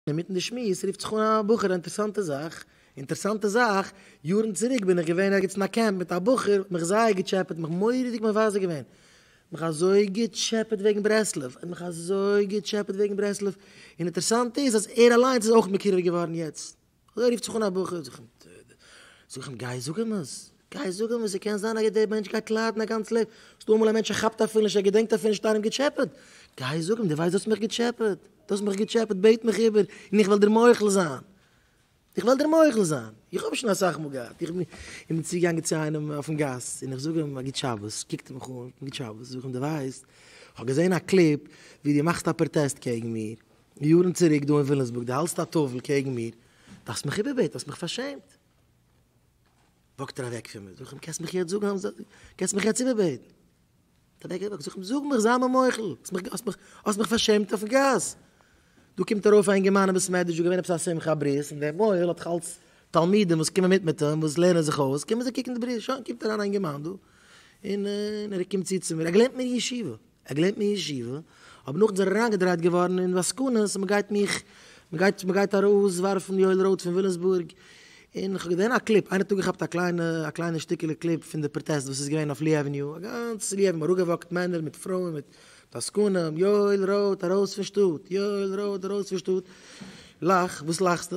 אינמיטן די שמועס רופט זיך אן א בחור אינטערסאנטע זאך, אינטערסאנטע זאך, יארן צוריק בין איך געווען ערגעץ אין א קעמפ מיט א בחור, האט מיך זייער געטשעפעט, מיך מורא'דיג מבזה געווען, מיך אזוי געטשעפעט וועגן ברסלב, ער האט מיך אזוי געטשעפעט וועגן ברסלב, און אינטערסאנט איז אז ער אליינס איז אויך מקורב געווארן יעצט, אזוי רופט זיך אן א בחור, זאג איך אים גיי זאג אים עס. גייסט זאגן וואס ס'קען זיין א יעדע דער מענטש גייט ליידן א גאנץ לעבן, ס'דא אמאל א מענטש ער כאפט אפילו נישט ער געדענקט אפילו נישט איינעם געטשעפעט, גייסט זאגן דו ווייסט דו האסט מיך געטשעפעט, דו האסט מיך געטשעפעט בעט מיך איבער און איך וועל דיר מוחל זיין, איך וועל דיר מוחל זיין, איך האב שוין אסאך מאל געהאט, איך בין צוגעגאנגען צו איינעם אויפן גאס און איך זאג אים א גוט שבת, קוקט ער מיך אן, גוט שבת, זאג איך אים דו ווייסט איך האב געזען א קליפ ווי דו מאכסט א פראטעסט קעגן מיר יארן צוריק דא אין וויליאמסבורג, דו האלסט א טאוול קעגן מיר, דו האסט מיך איבער בעט, דו האסט מיך פארשעמט. וואקט ער אוועק פון מיר, זאג איך אים, קענסט מיך יעצט זאגן אז מ'זאל, קענסט מיך יעצט איבערבעטן? האט ער אוועק געוואקט, זאג איך אים, זאג מיך, זיי מיר מוחל, האסט מיך, האסט מיך, האסט מיך פארשעמט אויפן גאס. דא קומט ארויף א אינגערמאן אין בית מדרש, דא געווען עפעס א שמחה, א ברית, און דער מוהל האט זיך אלץ תלמידים וואס קומען מיט מיט אים, וואס לערנען זיך אויס, קומען זיי קוקן די ברית, שוין קומט אריין א אינגערמאן דא, און ער קומט צו צו מיר, ער גלערנט מיר אין ישיבה. ער געלערנט אין ישיבה, אבער נאכדעם איז ער אריינגעדרייט געווארן אין עסקנות, מ'גייט מיך, מ'גייט, מ'גייט ארויס ווארפן יואל רויט פון ווילימסבורג, און כ'האב געזען א קליפ, איינער האט אפגעכאפט א קליינע, א קליינע שטיקעלע קליפ פון די פראטעסט וואס איז געווען אויף לי עוועניו, א גאנץ לי עוועניו אראפגעוואקט מענער מיט פרויען מיט דאסקנים, יואל רויט ארויס פון שטאט! יואל רויט ארויס פון שטאט! לאך, וואס לאכסטו?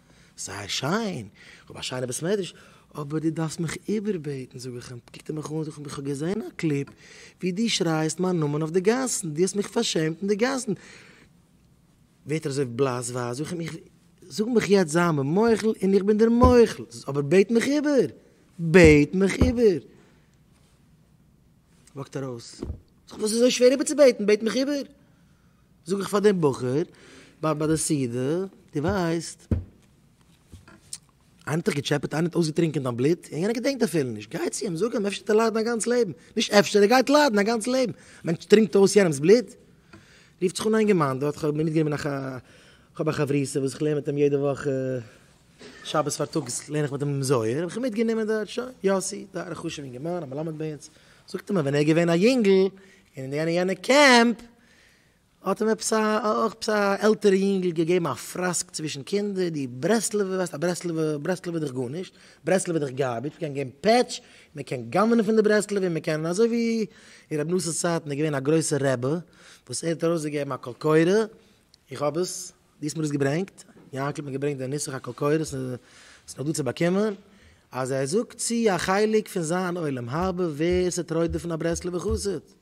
זייער שיין, כ'האב א שיינע בית מדרש, אבער דו דארפסט מיך איבערבעטן זאג איך אים, קוקט ער מיך אן זאגט ער איך האב געזען א קליפ ווי דו שרייסט מיין נאמען אויף די גאסן, דו האסט מיך פארשעמט אין די גאסן, ווערט ער אזוי בלאס ווייס, זאג איך אים איך, זאג מיך יעצט זיי מיר מוחל און איך בין דיר מוחל, אבער בעט מיך איבער, בעט מיך איבער. וואקט ארויס, זאג איך וואס איז אזוי שווער איבערצובעטן, בעט מיך איבער. זאג איך פאר דעם בחור ביי ביי די סעודה, דו ווייסט, איינער האט דיך געטשעפעט? איינער האט אויסגעטרינקען דיין בלוט? יענער געדענקט אפילו נישט. גיי צו אים, זאג אים, אפשר וועט ער ליידן א גאנץ לעבן. נישט אפשר, ער גייט ליידן א גאנץ לעבן. א מענטש טרינקט אויס יענעמ'ס בלוט? רופט זיך אן איין געמיינדע, האט איך האב מיטגענומען א ח, כ'האב א חברותא וואס כ'לערן מיט אים יעדע וואך שבת פארטאגס לערן איך מיט אים זוהר, האב איך אים מיטגענומען דארט, שוין, יאסי, דא א חשוב'ן אינגערמאן, א מלמד ביי אונז. זאגט ער מיר, ווען ער איז געווען א יונגל, אין יענע יענע קעמפ, האט אים עפעס א אויך עפעס א עלטערע יונגל געגעבן א פראסק צווישן קינדער, דו ברסלב'ע ווייסט א ברסלב'ע ברסלב איז דאך גארנישט, ברסלב איז דאך גארביטש, מ'קען געבן פעטש, מ'קען גנב'נען פון די ברסלב און מ'קען אזוי ווי אין ר' נאס'ס צייטן איז געווען א גרויסער רבי וואס ער האט ארויסגעגעבן א קול קורא, איך האב עס, דיסמאל איז געברענגט, יאנקל האט מיר געברענגט די נוסח הקול קורא ס'איז ס'איז נאך דא צו באקומען, אז ער זאגט צו א חלק פון זיין עולם הרבה ווער ס'טרויעט דערפון א ברסלב'ער חסיד.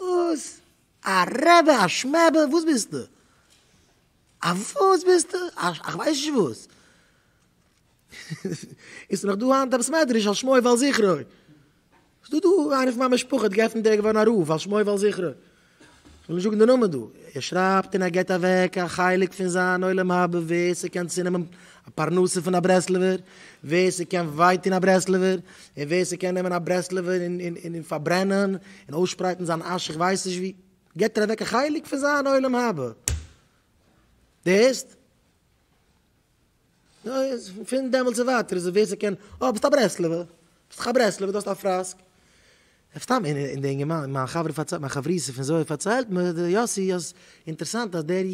וואס? א רעבע? א שמעבע? וואס ביסטו? א וואס ביסטו? א כ'ווייס נישט וואס. איז נאך דא היינט עפעס מעדרעש על שמו ועל זכרו? איז דא דא איינער פון מיין משפחה האט געפענט דער געווארן א רב על שמו ועל זכרו? כ'וועל נישט זאגן די נאמען דא. ער שרייבט און ער געט אוועק א חלק פון זיין עולם הבא ווער ס'קען צונעמען א פרנסה פון א ברסלב'ער, ווער ס'קען וויי טון א ברסלב'ער, און ווער ס'קען נעמען א ברסלב'ער און פארברענען און אויסשפרייטן זיין אש איך ווייס נישט ווי, געבט ער אוועק א חלק פון זיין עולם הבא. דו הערסט? פון דעמאלטס און ווייטער איז עס ווער ס'קען, אה ביסט א ברסלב'ער, ביסט דאך א ברסלב'ער, דו האסט א פראסק. אויף סתם אין אין די אינגערמאן מיין חברה פארציילט מיין חברותא פון זוהר פארציילט מיר די יוסי אז אינטערעסאנט אז דער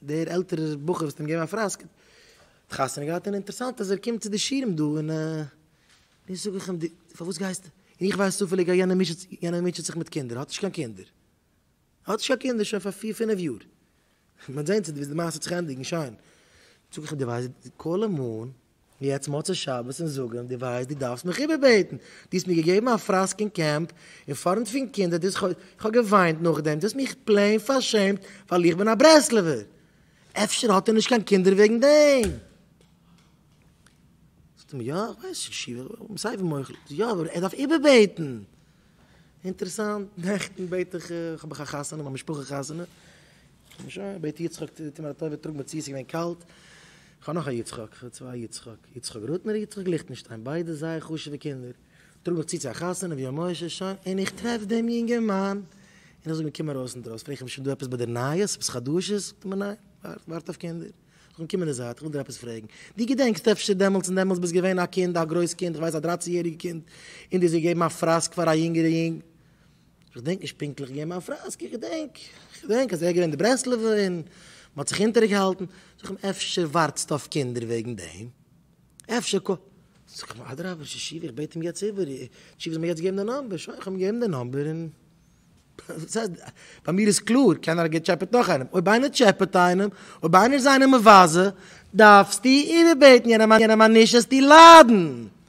דער עלטערער בחור וואס האט אים געגעבן א פראסק האט חתונה געהאט און אינטערעסאנט אז ער קומט צו די שירעם דא און נו זאג איך אים די פארוואס גייסטו און איך ווייס צופעליג אז יענער מוטשעט יענער מוטשעט זיך מיט קינדער האט נישט קיין קינדער האט נישט קיין קינדער שוין פאר פיר פינעף יאר מען וועט זעהן צו די וועסט די מעשה האט זיך ענדיגן שיין זאג איך אים די ווייסט די קול המון יעצט מוצאי שבת און זאגן דו ווייסט דו דארפסט מיך איבערבעטן, דו האסט מיר געגעבן א פראסק אין קעמפ אין פארנט פון קינדער, דו האסט איך האב געוויינט נאכדעם, דו האסט מיך פלעין פארשעמט ווייל איך בין א ברסלב'ער, אפשר האט ער נישט קיין קינדער וועגן דעם? זאגט ער מיר יא איך ווייס, סיי ווי מוחל, יא אבער ער דארף איבערבעטן. אינטערעסאנט, נעכטן בעט איך, האב איך א חתונה, מיין משפחה חתונה, שוין, בעט יצחק טו מיר א טובה טראג מיר צו, עס איז געווען קאלט, איך האב נאך א יצחק, איך האב צוויי יצחק, יצחק רוטנער און יצחק ליכטנשטיין, ביידע זייער חשוב'ע קינדער, טראג מיך צו צו א חתונה ווי א משה, שוין, און איך טרעף דעם יונגערמאן, און איך זאג אים קום ארויס אינדרויסן, פרעג איך אים שוין דא עפעס ביי דיר נייעס, עפעס חדשות, זאגט ער מיר ניין, ווארט אויף קינדער. איך וויל קומען די זייט, איך וויל דיר עפעס פרעגן. דו געדענקסט אפשר דעמאלטס און דעמאלטס ביסט געווען א קינד, א גרויס קינד, איך ווייס א דרײַצן יעריגע קינד, און דו האסט געגעבן א פראסק פאר א יונגערע יונג. איך געדענק נישט פונקטליך געבן א פראסק, איך געדענק, איך געדענק אז ער איז געווען די ברסלב'ע און מען האט זיך אונטערגעהאלטן. זאג איך אים, אפשר ווארטסטו אויף קינדער וועגן דעם? אפשר ק. זאג איך אים, אדרבה, שישי, איך בעט אים יעצט איבער, תשובה זאל מיר יעצט געבן די נאמבער. שוין, איך האב אים געגעבן די נאמבער און. ביי מיר איז קלאר, קיינער האט געטשעפעט נאך איינעם, אויב איינער טשעפעט איינעם, אויב איינער איז איינעם מבזה, דארפסטו איבערבעטן יענעם אז נישט זאלסטו ליידן.